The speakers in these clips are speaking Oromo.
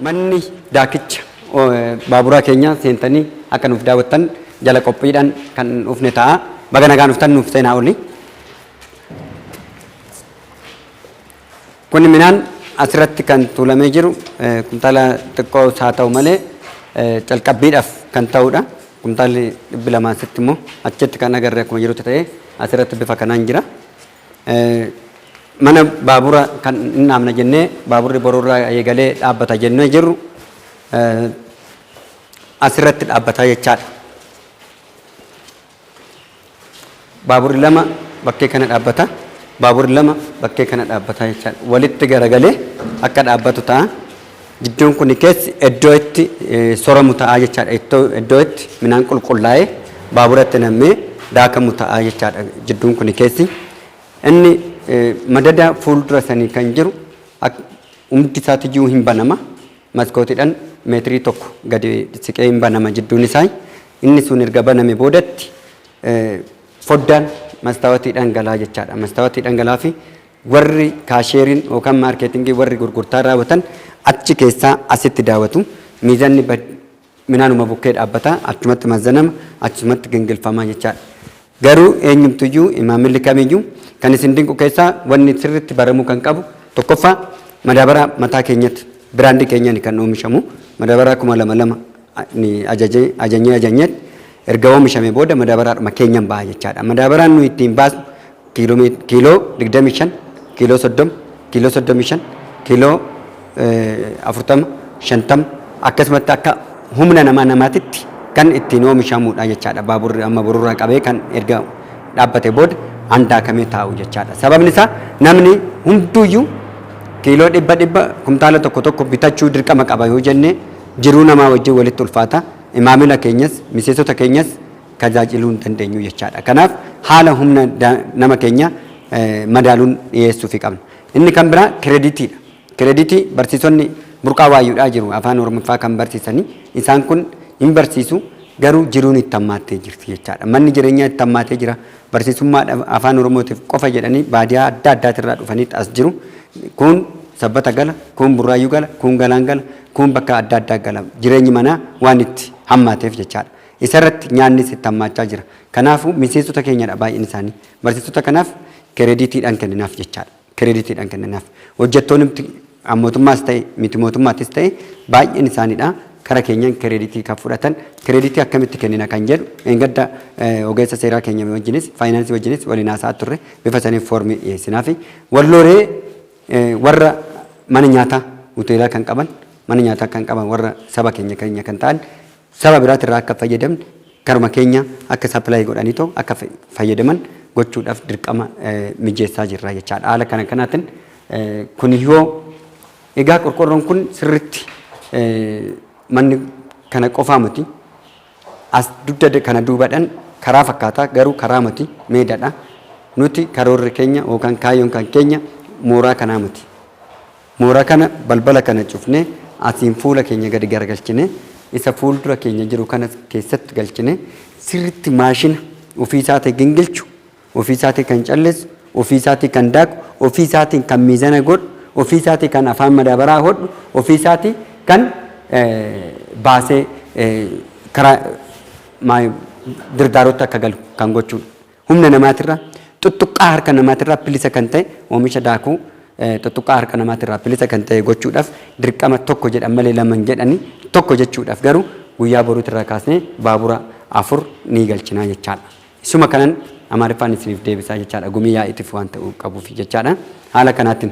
manni daakicha baaburaa keenya seentanii akka nuuf daawwattan jala qophiidhaan kan dhufne ta'a. Baga nagaan dhuftan nuuf seenaa oli. Qonni midhaan asirratti kan tuulamee jiru kuntaala xiqqoos haa ta'u malee calqabbiidhaaf kan ta'udha. Kuntaalli 200 asitti immoo achitti kan agarre akkuma jirutti ta'ee asirratti bifa kanaan jira. Mana baabura kan hin dhaabna jennee baaburri boruurraa eegalee dhaabbata jennee jirru asirratti dhaabbataa jechaadha. Baaburri lama bakkee kana dhaabbata. Baaburri lama bakkee kana dhaabbata jechaadha. Walitti garagalee akka dhaabbatu ta'a. Gidduun kun keessi iddoo itti soramu ta'a jechaadha. Iddoo itti midhaan qulqullaa'ee baaburatti nammee daakamu ta'a jechaadha gidduun kun keessi. Inni madada fuuldura sanii kan jiru humti isaatiyyuu hin banama. maskootiidhan meetirii tokko gadi siqee hin banama jidduun isaa. Inni sun erga baname boodatti foddaan mastaawatiidhaan galaa jechaadha. Mastaawatiidhaan galaa fi warri kaasheeriin yookaan maarkeetingii warri gurgurtaa raawwatan achi keessaa asitti daawwatu. Miizanni Minaanuma bukkee dhaabbata, achumatti mazzanama, achumatti gingilfama jechaadha. Garuu eenyumtuyyuu maamilli kamiyyuu kan isin dinqu keessaa wanni sirriitti baramuu kan qabu tokkoffaa madaabaraa mataa keenyatti biraandii keenyani kan oomishamu madaabaraa kuma lama lama ajajee ajanyee ajanyeetti erga oomishame booda madaabaraadhuma keenyan baha jechaadha. Madaabaraan nuyi ittiin baasnu kiiloo mee- kiiloo 25 kiiloo 30 kiiloo 35 kiiloo eh, 40 50 akkasumatti akka humna namaa namaatitti kan ittiin oomishamudha jechaadha baaburri amma borurraa qabee kan erga dhaabbate booda handaakamee taa'u jechaadha sababni isaa namni hunduyyuu kiiloo dhibba dhibba kumtaala tokko tokko bitachuu dirqama qaba yoo jenne jiruu namaa wajjin walitti ulfaata imaamila keenyas miseensota keenyas tajaajiluu hin dandeenyu jechaadha. Kanaaf haala humna nama keenya madaaluun dhiyeessuufi qabna. Inni kan biraa kireeditiidha. Kireeditii barsiisonni burqaa waayyuudhaa jiru afaan Oromiffaa kan barsiisanii isaan kun hin barsiisu garuu jiruun itti hammaattee jirti jechaadha. Manni jireenyaa itti hammaatee jira. Barsiisummaa afaan Oromootiif qofa jedhanii baadiyaa adda addaatirraa dhufaniitti as jiru. Kun sabbata gala, kun burraayyuu gala, kun galaan gala, kun bakka adda addaa gala. Jireenyi manaa waan itti hammaateef jechaadha. Isarratti nyaannis itti hammaachaa jira. Kanaafuu miseensota keenyadha baay'een isaanii. Barsiisota kanaaf kireediitiidhaan kenninaaf jechaadha. Kireediitiidhaan kenninaaf. Hojjettoonumti mootummaas ta'e miti mootummaattis ta'e baay'een isaaniidha kara keenyan kireediitii kan fudhatan. Kireediitii akkamitti kennina kan jedhu engadda ogeessa seeraa keenya wajjinis faayinaansii wajjinis waliin haasa'aa turre bifa saniin foormii dhiyeessinaafi. Wallooree warra mana nyaataa hoteelaa kan qaban mana nyaataa kan qaban warra saba keenya keenya kan ta'an Saba biraatirraa akka hin fayyadamne karuma keenya akka supply godhaniitoo akka fayyadaman gochuudhaaf dirqama mijeessaa jirra jechaadha. Haala kana kanaatiin kun yoo egaa qorqorroon kun sirriitti manni kana qofaa miti as dugda kana duubadhan karaa fakkaata garuu karaa miti meedadha. Nuti karoorri keenya yookaan kaayyoon kan keenya mooraa kanaa miti. Moora kana, balbala kana cufnee, asiin fuula keenya gadi garagalchinee, isa fuuldura keenya jiru kanas keessatti galchinee, sirriitti maashina ofii isaatii gingilchu, ofii isaatii kan calleessu, ofii isaatii kan daaku, ofii isaatiin kan miizana godhu, ofii isaatii kan afaan madaabaraa hodhu, ofii isaatii kan baasee karaa girgaaruutti akka galu kan gochuudha. Humna namaatirraa, xuxxuqqaa harka namaatirraa bilisa kan ta'e oomisha daakuu xuxxuqqaa harka namaatirraa bilisa kan ta'e gochuudhaaf dirqama tokko jedhan malee lama hin jedhani. Tokko jechuudhaaf garuu guyyaa boruutirraa kaasnee baabura afur ni galchinaa jechaadha. Isuma kanan Amaariffaan isiniif deebisaa jechaadha gumii yaa'iitiif waan ta'uu qabuuf jechaadha. Haala kanaatiin.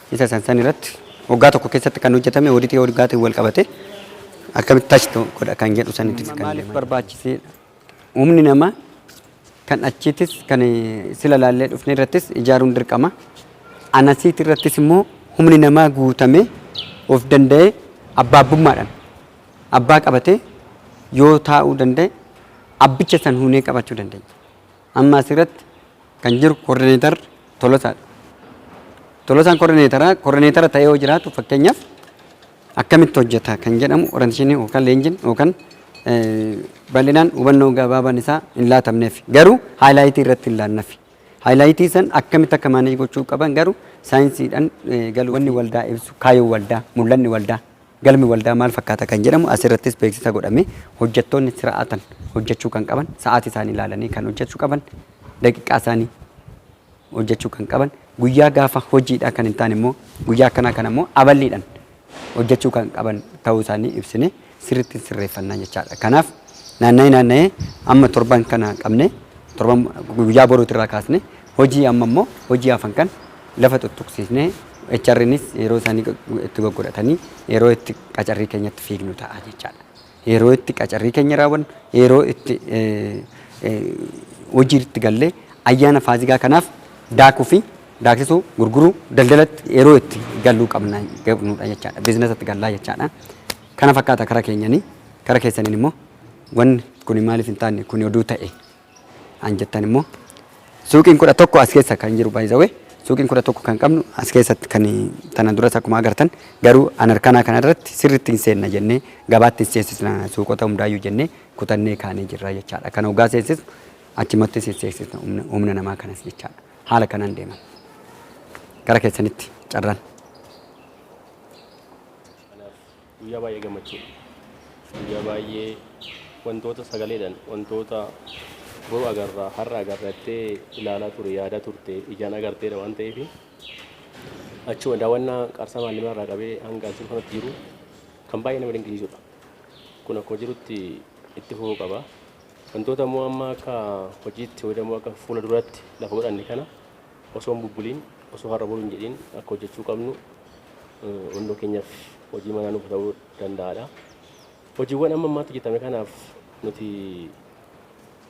Isa san san irratti waggaa tokko keessatti kan hojjetame oditii waggaatti wal qabate akkamitti tachi godha kan jedhu sanitti kan maaliif barbaachisee humni namaa kan achiitis kan sila laallee dhufne irrattis ijaaruun dirqama. Anasiit irrattis immoo humni namaa guutamee of danda'ee abbaabbummaadhaan abbaa qabatee yoo taa'uu danda'e abbicha san huunee qabachuu dandeenya. Amma asirratti kan jiru koordineetar Tolosaadha. Tolosaan koordineetaraa koordineetara ta'ee yoo jiraatu fakkeenyaaf akkamitti hojjeta kan jedhamu orantishinii yookaan leenjiin yookaan bal'inaan hubannoo gabaabaan isaa hin laatamneef garuu haayilaayitii irratti hin laanneef. Haayilaayitii san akkamitti akka maaneej gochuu qaban garuu saayinsiidhaan galuu wanni waldaa ibsu kaayoo waldaa mul'anni waldaa Galmi waldaa maal fakkaata kan jedhamu as irrattis beeksisa godhame. Hojjattoonni sira'aatan hojjachuu kan qaban, sa'aati isaanii ilaalanii kan hojjachu qaban, daqiqaa isaanii hojjachuu kan qaban, guyyaa gaafa hojiidhaa kan hin taane immoo guyyaa akkanaa kana immoo aballiidhan hojjachuu kan qaban ta'uu isaanii ibsine sirritti hin sirreeffannaa jechaadha. Kanaaf naanna'ee naanna'ee amma torban kana qabne torban guyyaa boruuti irraa kaasne Hojii amma immoo hojii hafan kan lafa tuttuqsiisnee HRnis yeroo isaanii itti goggodhatanii yeroo itti qacarrii keenyatti fiignu ta'a jechaadha. Yeroo itti qacarrii keenya raawwannu, yeroo itti hojiitti gallee ayyaana faazigaa kanaaf daakuu fi daaksisuu, gurguruu, daldalatti yeroo itti galluu qabna qabnudha jechaadha. Biizinasatti gallaa jechaadha. Kana fakkaata kara keenyanii. Kara keessaniin immoo wanni kuni maaliif hin taane kuni oduu ta'e an jettan immoo suuqiin kudha tokko as keessa kan jiru by the way suuqiin kudha tokko kan qabnu as keessatti kan tana duras akkuma agartan garuu an harkanaa kana irratti sirriitti hin seenna jennee gabaatti hin seensisna suuqota hundaayyuu jennee kutannee kaanee jirra jechaadha kan hoggaa seensisnu achimattis hin seensisna humna- humna namaa kanas jechaadha haala kanaan deeman gara keessanitti carraan Guyyaa baay'ee gammachuudha. Guyyaa baay'ee wantoota sagaleedhaan wantoota boru agarra har'a agarra jettee ilaalaa ture yaadaa turte ijaan agarteedha waan ta'eef achuma daawwannaa qarsaa maallimaa irraa qabee hanga as jiru kanatti jiru kan baay'ee nama dinqisiisudha. Kun akkuma jirutti itti fufuu qaba. Wantoota immoo amma akka hojiitti fayyadamuu akka fuula duratti lafa godhanne kana Osoo hin bubbuliin, osoo har'a boru hin jedhiin akka hojjechuu qabnu hunduu keenyaaf hojii manaa nuuf ta'uu danda'aadha. Hojiiwwan amma ammaatti hojjetame kanaaf nuti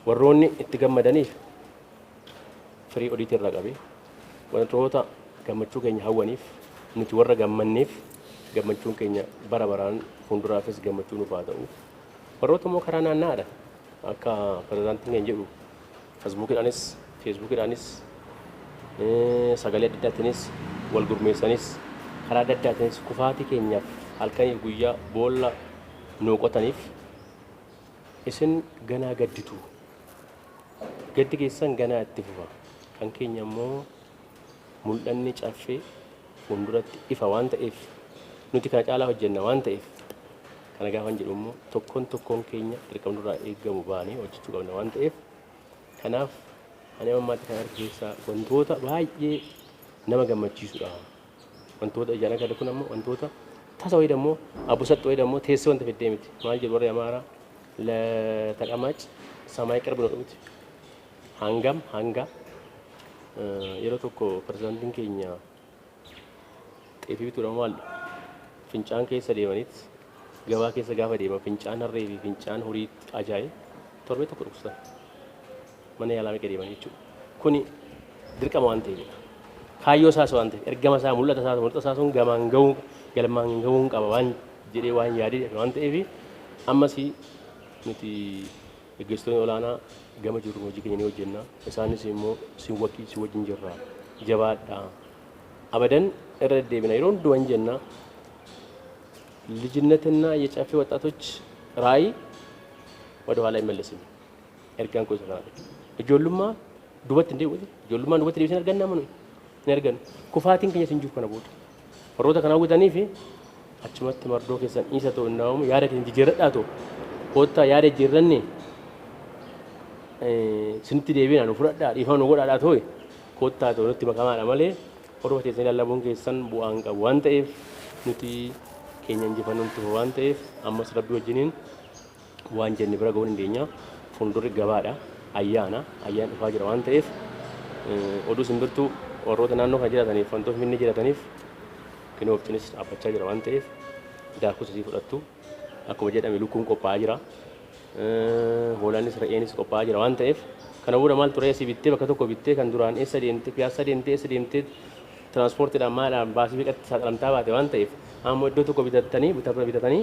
warroonni itti gammadaniif firii odiitii irraa qabe wantoota gammachuu keenya hawwaniif nuti warra gammanneef gammachuun keenya bara baraan fuulduraafis gammachuu nuuf haa ta'u. Warroota immoo karaa naanna'aadha akka pirezidaantiin keenya jedhu Fasbuukidhaanis, Feesbuukidhaanis, sagalee adda addaatiinis, wal gurmeessanis, karaa adda addaatiinis kufaatii keenyaaf halkaniif guyyaa boolla nuu qotaniif isin ganaa gadditu. Gaddi keessan ganaa itti fufa. Kan keenya immoo. Mul'anni Caffee fuulduratti ifa waan ta'eef nuti kana caalaa hojjenna waan ta'eef kana gaafan jedhu immoo tokkoon tokkoon keenya dirqama nurraa eegamu baanee hojjechuu qabna waan ta'eef kanaaf ani amma ammaatti kan arge keessaa wantoota baay'ee nama gammachiisudha. Wantoota ijaan agarre kun ammoo wantoota tasa wayii dammoo abusaxxi wayii dammoo teessee wanta fiddee miti. Maal jedhu warri Amaaraa la taqamaac samaay qirb nu dhumti. Hangam hanga yeroo tokko pirezidaantiin keenya xeefii bituudhaan maalli fincaan keessa deemaniit gabaa keessa gaafa deeman fincaan harree fi fincaan horii ajaa'e torbee tokko dhukkubsatan mana yaalaa meeqa deeman jechuudha. Kuni dirqama waan ta'eefidha. Kaayyoo isaas waan ta'eef ergama isaa mul'ata isaa mul'ata isaa sun gamaan ga'uu galmaan ga'uun qaba waan jedhee waan yaadee waan ta'eef ammas nuti Gaggeessitoonni olaanaa gama jiruun hojii keenya ni hojjenna. Isaanis immoo sin waki, si wajjin jirra, jabaadhaa. Abadan irra deddeebina yeroo hundumaa hin jenna. Lijinnetinna yecaffee waxxaatoch raayi wada ኋላ አይመለስም ergaan koo isa kanadha. Ijoollummaa dubatti hin deebi'u. Ijoollummaan dubatti deebisee hin arganna amma nuyi hin argannu. Kufaatiin keenyas hin jiru kana booda. Warroota kana hawwitaniifi achumatti mardoo keessan dhiisa too innaa uumu yaada keessan jijjiirradhaa too koottaa yaada jijjiirranne isinitti deebiina nu fudhadhaa dhiifama nu godhaadhaa too koottaa too nutti makamaadha malee warroota keessan ilallabuun keessan bu'aa hin qabu waan ta'eef nuti keenya injifannoon tufa waan ta'eef ammas rabbi wajjiniin Waan jenne bira ga'uu dandeenya. Fuuldurri gabaadha. Ayyaana. Ayyaan dhufaa jira waan ta'eef oduu simbirtuu warroota naannoo kana jiraataniif wantoo Finfinnee jiraataniif kinoo waqtiinis dhaabbachaa jira waan ta'eef daakus asii fudhattu. Akkuma jedhame lukkuun qophaa'aa jira. Hoolaanis re'eenis qophaa'aa jira waan ta'eef kana booda maal turee asii bittee bakka tokko bittee kan duraan eessa deemtee piyaassaa deemtee eessa deemtee tiraanspoortiidhaan maadhaan baasii meeqatti saaxilamtaa baate waan ta'eef ammoo iddoo tokko bitattanii bitatanii